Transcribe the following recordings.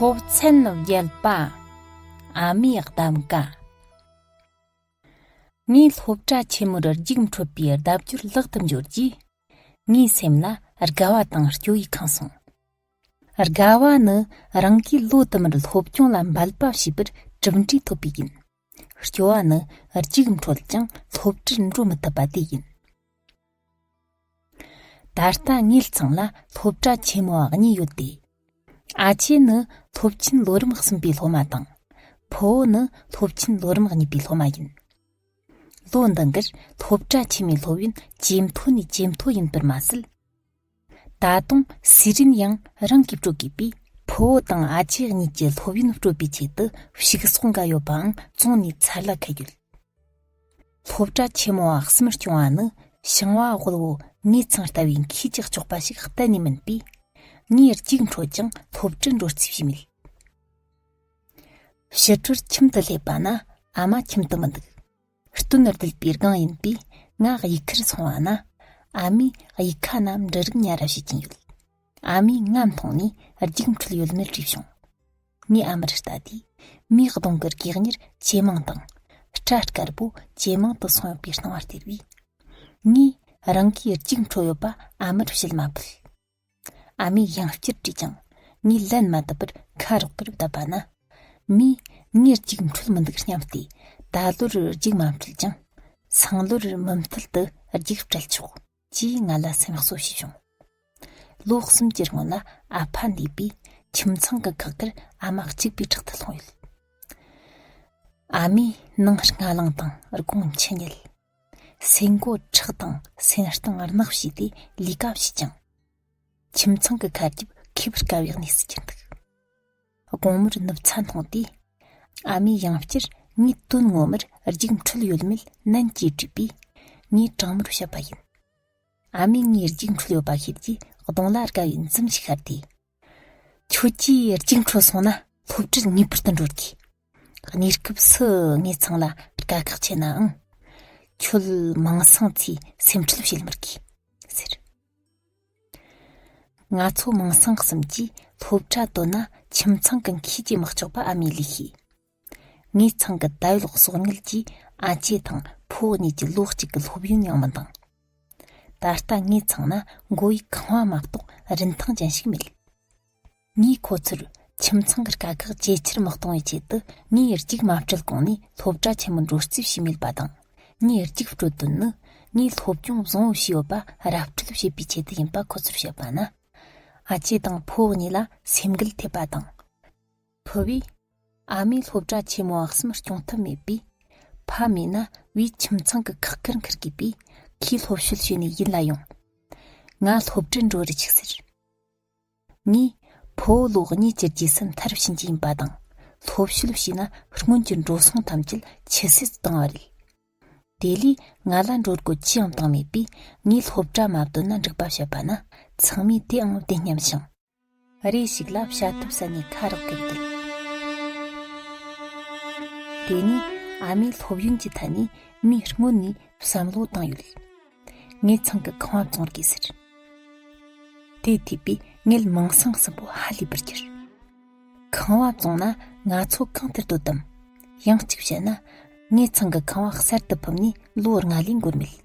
ཐོབ་ཚན་རྒྱལ་པ་ཨ་མའི་གདམ་ག་ངའི་སློབ་གྲྭ་ཆེན་མོར་རྒྱུགས་འཕྲོད་པའི་ལྡབ་འགྱུར་ལག་ཏུ་འབྱོར་རྗེས་ངའི་སེམས་ལ་དགའ་བ་དང་སྐྱོ་བས་ཁེངས་སོང། དགའ་བ་ནི་རང་གིས་བློ་དུ་མར་སློབ་སྦྱོང་ལ་འབད་པ་བྱས་པར་གྲུབ་འབྲས་ཐོབ་པས་ཡིན། སྐྱོ་བ་ནི་རྒྱུགས་འཕྲོད་ཀྱང་སློབ་གྲྭར་འགྲོ་མི་ཐུབ་པ་དེས་ཡིན། ད་ལྟ་ངེད་ཚང་ལ་སློབ་གྲྭ་ཆེན་མོ་གཉིས་ཡོད་དེ། ཨ་ཆེན་ནི་སློབ་ཆེན་ལོ་རིམ་གསུམ་པའི་སློབ་མ་དང། ཕོ་བོ་ནི་སློབ་ཆེན་ལོ་རིམ་གཉིས་པའི་སློབ་མ་ཡིན། ལོ་འདི་འགར་སློབ་གྲྭ་ཆེན་མོའི་སློབ་ཡོན་ཇེ་མཐོ་ནས་ཇེ་མཐོ་ཡིན་པར་མ་ཟད། ད་དུང་ཟི་རིན་ཡང་རང་གི་དྲུག་གི་བུ་ཕོ་བོ་དང་ཨ་ཅེ་གཉིས་ཀྱི་སློབ་ཡོན་སྤྲོད་པའི་ཆེད་དུ་ཕྱུགས་ཟོག་འགའ་ཡོད་པའང་བཙོངས་ནས་ཚར་ལ་ཁད་ཡོད། སློབ་གྲྭ་ཆེན་མོ་བ་གསུམ་སྐྱོང་བ་ནི་ཞིང་བ་དབུལ་བོ་ངེད་ཚང་ལྟ་བུའི་མཁས་ཀྱི་གཅོག་པ་ཞིག་གཏན་ནས་མིན་པས། ངས་གཅིག་འཕྲོད་ཀྱང་སློབ་གྲྭར་འགྲོ་རྩིས་བྱས་མེད། ཕྱི་དྲོར་ཁྱིམ་དུ་སླེབས་པ་ན་ཨ་མ་ཁྱིམ་དུ་མི་འདུག། སྟོན་ར་དུལ་པའི་སྒང་ཡིན་པས་ང་གཡུལ་ཁར་སོང་བ་ན། ཨ་མའི་གཡུལ་ཁ་རྣམས་འབྲི་རིགས་གཉའ་ར་བྱེད་ཀྱིན་ཡོད། ཨ་མས་ང་མཐོང་ནས་རྒྱུགས་འཕྲོད་ཡོད་མེད་དྲིས་བྱུང། ངས་ཨ་མར་ལྟ་དུས། མིའི་གདོང་གི་གེགས་ཉེར་ཇེ་མང་དང། སྐྲ་དཀར་པོ་ཇེ་མང་དུ་སོང་ཡོད་པའི་སྣང་བ་སྟེར་བས། ངས་རང་གིས་རྒྱུགས་འཕྲོད་ཡོད་པ་ཨ་མར་བཤད་མ་ཕོད། ཨ་མའི་གཡང་སྐྱར་དྲིས་ཀྱང་ངས་ལན་མ་བཏབ་པར་ཁ་རོག་གེར་བསྡད་པ་ན། མོས་ངས་རྒྱུགས་འཕྲོད་མི་འདུག་སྙམ་སྟེ་ད་ལོར་རྒྱུགས་མ་འཕྲོད་ཀྱང། སང་ལོར་མུ་མཐུད་དུ་རྒྱུགས་སྤྲད་ཆོག་ཅེས་ང་ལ་སེམས་གསོ་བྱས་བྱུང། ལོ་གསུམ་གྱི་སྔོན་ལ་ཨ་ཕ་འདས་པས་ཁྱིམ་ཚང་གི་ཁག་ཁར་ཨ་མ་གཅིག་པའི་ཁྲག་ཐུག་ལྷུང་ཡོད། ཨ་མའི་ནང་སྔ་ལངས་དང་སྒོང་ཕྱི་ཉལ། སེན་མགོ་ཁྲག་དང་སེན་རྟིང་རྣག་བྱས་ཏེ་ལས་ཀ་བྱས་ཀྱང། ཁྱིམ་ཚང་གི་ཁ་རྒྱབ་འཁེལ་བར་དཀའ་བའི་གནས་སུ་གྱུར་འདུག་དགོང་མོར་ནུབ་ཚ་མཐོང་སྟེ། ཨ་མའི་གཡང་སྐྱར་ངའི་དོན་ངོ་མར་རྒྱུགས་འཕྲོད་ཡོད་མེད་ནན་གྱིས་དྲིས་པས། ངས་དྲང་མོར་བཤད་པ་ཡིན། ཨ་མས་ངའི་རྒྱུགས་འཕྲོད་ཡོད་པ་ཤེས་རྗེས་གདོང་ལ་དགའ་བའི་འཛུམ་ཞིག་ཤར་ཏེ། ཁྱོད་ཀྱིས་གཅིག་འཕྲོད་སོང་ན་སློབ་གྲྭར་ངེས་པར་དུ་འགྲོ་དགོས། གནས་སྐབས་སུ་ངེད་ཚང་ལ་དཀའ་ཁག་ཆེ་ནའང། ཁྱོད་མིང་སྲིང་ཚོས་སེམས་ཁྲལ་བྱེད་མི་དགོས། ཟེར། ང་ཚོ་མིང་སྲིང་གསུམ་གྱིས་སློབ་གྲྭ་དོད་ན་ཁྱིམ་ཚང་གི་མཁས་ཀྱི་དམག་ཆགས་པ་ཨ་མའི་ལས་ཤེས། ངའི་ཚང་གི་ད་ཡོད་གསོག་ཉལ་གྱིས་ཨ་ཅེ་དང་ཕུ་བོ་གཉིས་ཀྱི་ལོ་གཅིག་གི་སློབ་ཡོན་ཡང་མི་འདང། ད་ལྟ་ངའི་ཚང་ན་མགོ་བོའི་ཁང་བ་མ་གཏོགས་རིན་ཐང་ཅན་ཞིག་མེད། ངས་ཁོ་ཚོར་ཁྱིམ་ཚང་གི་དཀའ་ཁག་ཇེ་ཆེར་མི་གཏོང་བའི་ཆེད་དུ་ངའི་རྒྱུགས་མ་སྤྲོད་གོང་ནས་སློབ་གྲྭ་ཆེན་མོར་འགྲོ་རྩིས་བྱས་མེད་པ་དང། ངའི་རྒྱུགས་སྤྲོད་དོན་ནི་ངས་སློབ་སྦྱོང་བཟང་བོ་བྱས་ཡོད་པ་ར་སྤྲོད་བྱེད་པའི་ཆེད་དུ་ཡིན་པ་ཁོ་ཚོར་བཤད་པ་ན། ཨ་ཅེ་དང་ཕུ་བོ་གཉིས་ལ་སེམས་འགུལ་ཐེབས་པ་དང། ཕུ་བོས། ཨ་མའི་སློབ་གྲྭ་ཆེན་མོ་འོག་སེམས་སྐྱོང་ཐབས་མེད་པས། ཕ་མེད་ན་བུའི་ཁྱིམ་ཚང་གི་ཁག་འཁར་འཁུར་དགོས་པས་ཁོས་སློབ་བཤོལ་བྱས་ནས་ཡིད་ལ་ཡོང། ང་སློབ་གྲྭར་འགྲོ་རུ་ཆུག་ཟེར། ངས། ཕུ་བོ་ལོ་གཉིས་ཀྱི་རྗེས་སུ་མཐར་ཕྱིན་གྱི་ཡིན་པ་དང། སློབ་བཤོལ་བྱས་ན་སྔོན་གྱི་འགྲོ་སོང་ཐམས་ཅད་ཕྱི་སེལ་དུ་བཏང་བ་རེད། དེ་ལས་ང་ལ་འགྲོ་སྒོ་ཅི་ཡང་བཏང་མེད་པས་ངས་སློབ་གྲྭ་མ་བཏོན་ན་འགྲིག་པ་བཤད་པ་ན་ཚང་མས་དེའང་བདེན་སྙམ་ཞིང། རེ་ཞིག་ལ་བྱ་ཐབས་ས་ནས་ཁ་རག་གིར་འདུག། དེ་ནས་ཨ་མའི་སློབ་ཡོན་གྱི་ཐད་ནས་མོས་སྔོན་ནས་བསམ་བློ་བཏང་ཡོད། ངེད་ཚང་གི་ཁང་བ་བཙོང་དགོས་ཟེར། དེའི་ཐོས་པས་ངེད་མིང་སྲིང་གསུམ་པོ་ཧ་ལས་པར་གྱུར། ཁང་བ་བཙོང་ན་ང་ཚོ་གང་དུ་སྡོད་དམ། ཡང་གཅིག་བཤད་ན། ངེད་ཚང་གི་ཁང་བ་གསར་དུ་ཕུབ་ནས་ལོ་ལྔ་ལས་འགོར་མེད།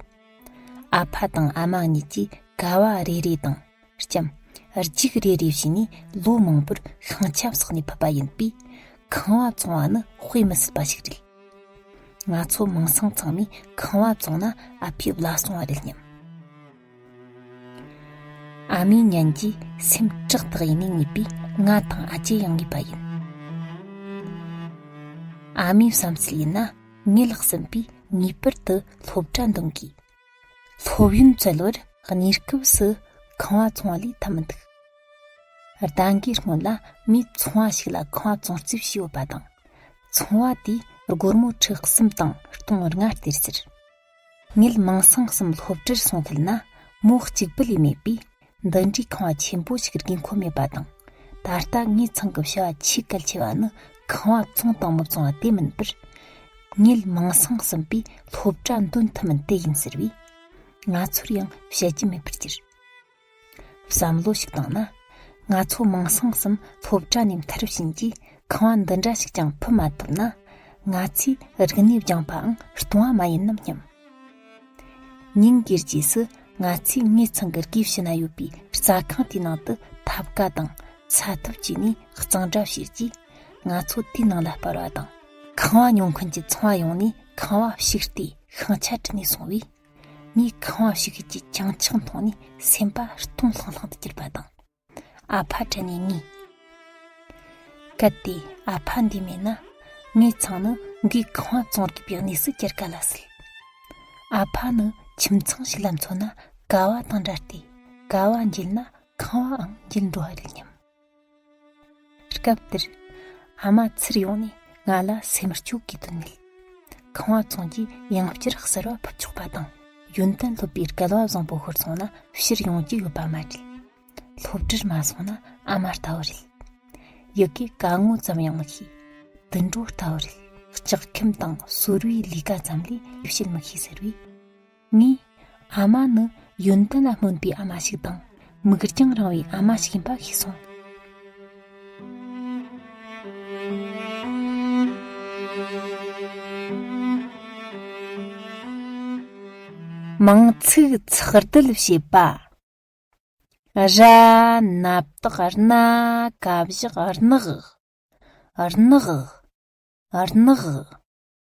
ཨ་ཕ་དང་ཨ་མ་གཉིས་ཀྱིས་ཀ་བ་རེ་རེ་དང། ལྕམ། རྒྱུགས་རེ་རེ་བྱས་ནས་ལོ་མང་པོར་ཤིང་ཆབ་བསགས་ནས་ཕུད་པ་ཡིན་པས། ཁང་བ་བཙོང་བ་ནི་དཔེ་མི་སྲིད་པ་ཞིག་རེད། ང་ཚོ་མིང་སྲིང་ཚང་མས་ཁང་བ་བཙོང་ན་ཨ་ཕས་བླ་སྲུང་བ་རེད་སྙམ། ཨ་མའི་ཉན་གྱི་སེམས་ཁྲག་དག་ཡིན་ནས་ངེས་པས་ང་དང་ཨ་ཅེ་ཡང་ངེས་པ་ཡིན། ཨ་མའི་བསམ་ཚུལ་ཡིན་ན་ངེད་ལགས་ཟིན་པས་ངེས་པར་དུ་སློབ་གྲྭ་འདོན་དགོས། སློབ་ཡོན་བཙལ་བར་གནས་སྐབས་སུ་ཁང་བ་ཚོང་བ་ལས་ཐབས་མི་འདུག་རྟེན་འགའི་སྔོན་ལ་མིས་ཚོང་བ་ཞིག་ལ་ཁང་བ་ཚོང་རྩིས་བྱས་ཡོད་པ་དང། ཚོང་བ་དེས་སྒོར་མོ་ཁྲི་གསུམ་དང་སྟོང་བར་ང་སྟེར་ཟེར། ངེད་མིང་སྲིང་གསུམ་སློབ་གྲྭར་སོང་ཐལ་ན་མོ་གཅིག་པུ་ལས་མེད་པས་འདི་འདྲའི་ཁང་བ་ཆེན་པོ་ཞིག་རྒྱུན་འཁོར་མེད་པ་དང་ད་ལྟ་ངའི་ཚང་གི་བྱ་བ་ཆེས་གལ་ཆེ་བ་ནི་ཁང་བ་བཙོང་དང་མི་བཙོང་བ་དེ་མིན་པར། ངེད་མིང་སྲིང་གསུམ་པོས་སློབ་གྲྭ་འདོན་ཐུབ་མིན་དེ་ཡིན་ཟེར་བས། ང་ཚོར་ཡང་བཤད་རྒྱུ་མེད་པར་གྱུར། བསམ་བློ་ཞིག་བཏང་ན། ང་ཚོ་མིང་སྲིང་གསུམ་སློབ་གྲྭ་ནས་མཐར་ཕྱིན་གྱིས་ཁང་བ་འདི་འདྲ་ཞིག་ཀྱང་ཕུད་མ་ཐུབ་ན། ང་ཚོས་རིག་གནས་སྦྱངས་པའང་སྟོང་བ་མ་ཡིན་ནམ་སྙམ། ཉིན་དགུའི་རྗེས་སུ་ང་ཚོས་ངེད་ཚང་གི་དགེ་བཤེས་ན་ཡོད་པའི་རྩྭ་ཁང་དེའི་ནང་དུ་ཐབ་ཀ་དང་ཚ་ཐབ་བཅུག་ནས་གཙང་སྦྲ་བྱས་རྗེས་ང་ཚོ་དེའི་ནང་ལ་སྤར་བ་དང། ཁང་བ་ཉོ་མཁན་གྱི་ཚོང་བ་ཡོང་ནས་ཁང་བ་བཤིག་སྟེ་ཤིང་ཆ་དྲིལ་ནས་སོང་བས། ངས་ཁང་བ་བཤིག་ཤུལ་གྱི་བྱང་ཆིངས་མཐོང་ནས་སེམས་པ་སྟོང་ལྷང་ལྷང་དུ་གྱུར་པ་དང། ཨ་ཕ་དྲན་ནས་ངུས། གལ་ཏེ་ཨ་ཕ་འདི་མེད་ན་ངའི་ཚང་ནི་འགས་གང་ཡང་བཙོང་རྒྱུ་པའི་གནས་སུ་གྱར་ག་ལ་སྲིད། ཨ་ཕ་ནི་ཁྱིམ་ཚང་ཞིག་ལ་འཚོ་ན་དགའ་བ་དང་འདྲ་སྟེ་དགའ་བ་འཇལ་ན་ཁང་བའང་འཇལ་འགྲོ་བ་རེད་སྙམ། སྐབས་དེར་ཨ་མ་ཚུར་ཡོང་ནས་ང་ལ་སེམས་མི་སྐྱོ་གི་དོན་མེད། ཁང་བ་ཚང་རྗེས་ཡང་བསྐྱར་གསར་བ་ཕུབ་ཆོག་པ་དང། ཡོན་ཏན་སློབ་པའི་སྐལ་བ་བཟང་པོ་ཤོར་སོང་ན་ཕྱིར་ཡོང་རྒྱུ་ཡོད་པ་མ་རེད། སློབ་གྲྭར་མ་སོང་ན་ཨ་མ་ལྟ་བུ་རེད། ཡི་གེ་ག་ངོ་ཙམ་ཡང་མི་ཤེས། དུད་འགྲོ་ལྟ་བུ་རེད། ལྕགས་ཁེམ་དང་ཟོར་བའི་ལས་ཀ་ཙམ་ལས་ལས་བྱེད་མི་ཤེས་ཟེར་བས། ནི། ཨ་མ་ནི་ཡོན་ཏན་ལ་སྨོན་པའི་ཨ་མ་ཞིག་དང་མིག་རྒྱང་རིང་བའི་ཨ་མ་ཞིག་ཡིན་པ་ཤེས་སོང། མིང་ཚིག་ཚགས་བསྡུ་བྱེད་པ། ར་ནག་རྟགས་སྣ་ཀ་བཞག་རྣག་རྣག་རྣག།